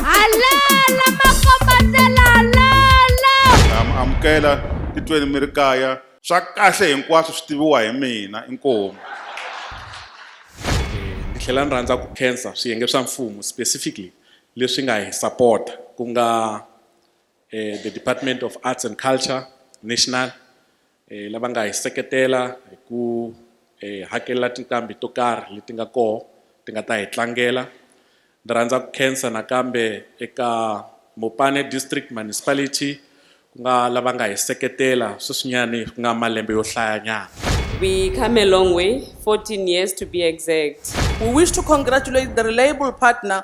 Alala makombandlela alala. na mi amukela titweni mi ri kaya swa kahle hinkwaswo swi tiviwa hi mina inkomu ni tlhela ni rhandza ku khensa swiyenge swa mfumo specifically leswi nga hi sapota ku nga eh, the department of arts and culture national lava nga hi seketela hi ku hi hakelela tinqambi to karhi leti nga koho ti nga ta hi tlangela ni rhandza ku khensa nakambe eka Mopane District Municipality ku nga lava nga hi seketela sweswinyani ku nga malembe yo hlayanyana We come a long way, 14 years to be exact. We wish to congratulate the reliable partner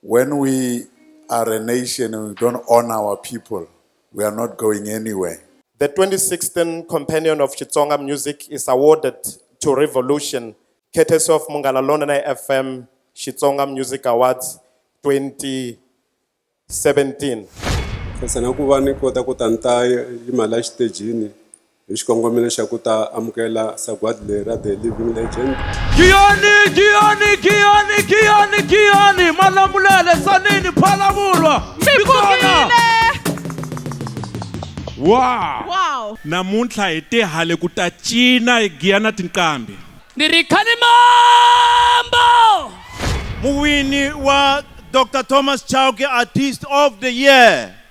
When we are a nation and we don't honor our people, we are not going anywhere. The 2016 Companion of Xitsonga Music is awarded to Revolution, courtesy of Munghana Lonene FM Xitsonga Music Awards 2017. khensa na ku va ni kota ku ta ni ta yimala exitejini hi xikongomelo xa ku ta amukela sagwadi leri ra the living legend giyani giyani giyani giyani giyani malamulele sanini phalavulwa mikona wow wow namuntlha hi tihale ku ta cina hi giya na tinqambi ni ri khalimambo muwini wa dr thomas chauke artist of the year